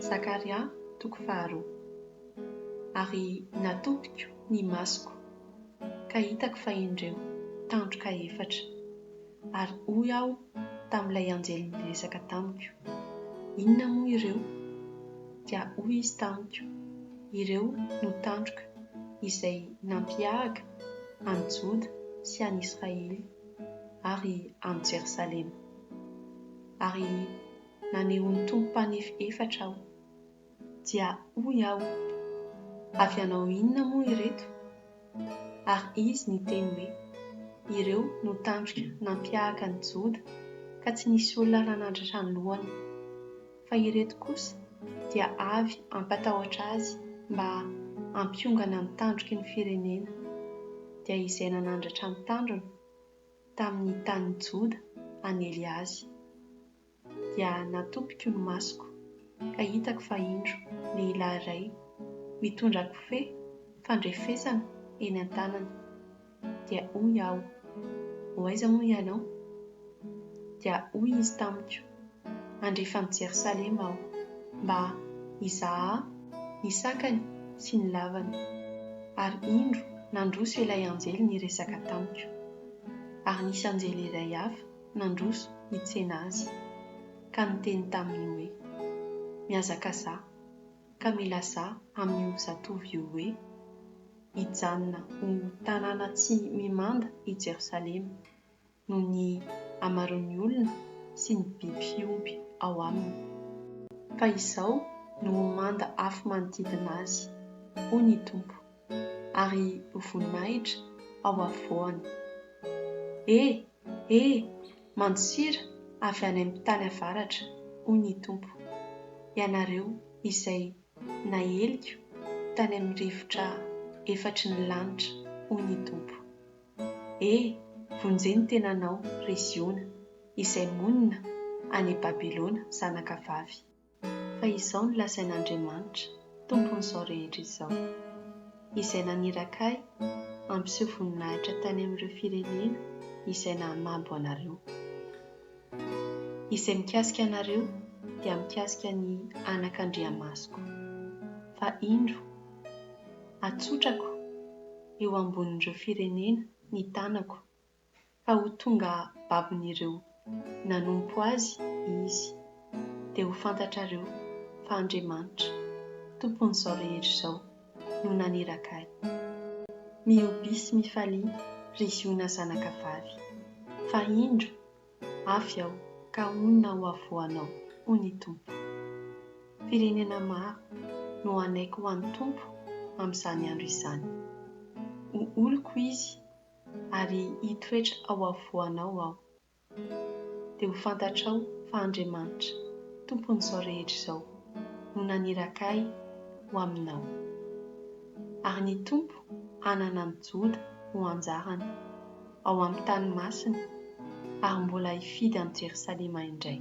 Zakaria toko faharoa. Ary natopiko ny masoko, ka hitako fa indreo tandroka efatra. Ary hoy aho tamin'ilay anjely niresaka tamiko, Inona moa ireo? Dia hoy izy tamiko, Ireo no tandroka izay nampiahaka an'i Joda sy an'i Israely ary an'i Jerosalema. Ary Nanehoan'ny Tompo mpanefy efatra aho. Dia hoy aho, Avy hanao inona moa ireto? Ary Izy niteny hoe, Ireo no tandroka nampihahaka an'i Joda ka tsy nisy olona nanandratra ny lohany. Fa ireto kosa dia avy hampatahotra azy mba hampiongana ny tandroky ny firenena, dia izay nanandratra ny tandrony tamin'ny tanin'i Joda hanely azy. dia natopiko ny masoko ka hitako fa indro lehilahy iray mitondra kofehy fandrefesana eny an-tanany dia hoy aho, ho aiza moa ianao? Dia hoy izy tamiko, handrefy an'i Jerosalema aho mba hizaha ny sakany sy ny lavany. Ary indro nandroso ilay anjely niresaka tamiko. Ary nisy anjely iray hafa nandroso hitsena azy, ka niteny taminy hoe, Mihazakazaha, ka milazaha amin'io zatovo io hoe, Hijanona ho tanàna tsy mimanda i Jerosalema, noho ny hamaroan'ny olona sy ny biby fiompy ao aminy. Fa izao no ho manda afo manodidina azy, hoy ny Tompo, ary ho voninahitra ao afovoany. E! E! Mantsira avy any amin'ny tany avaratra, hoy ny Tompo, ianareo izay naeliko tany amin'ny rivotra efatry ny lanitra, hoy ny Tompo. E! Vonjeo ny tenanao, ry Ziona, izay monina any Babylona zanakavavy. Fa izao no lazain'Andriamanitra, Tompon'izao rehetra izao, Izay naniraka Ahy hampiseho voninahitra tany amin'ireo firenena izay nahamabo anareo. Izay mikasika anareo dia mikasika ny anakandriamasoko, fa indro, atsotrako eo ambonin'ireo firenena ny tanako ka ho tonga babon'ireo nanompo azy izy, dia ho fantatrareo fa Andriamanitra, Tompon'izao rehetra izao, no naniraka ahy. Mihobia sy mifalia, ry Ziona zanakavavy, fa indro, avy aho ka honina ho havoanao, hoy ny Tompo. Firenena maro no hanaiky ho an'ny Tompo amin'izany andro izany. Ho oloko izy ary hitoetra ao afovoanao Aho. Dia ho fantatrao fa Andriamanitra, Tompon'izao rehetra izao, no naniraka Ahy ho aminao. Ary ny Tompo hanana an'i Joda ho anjarany, ao amin'ny tany masiny, ary mbola hifidy an'i Jerosalema indray.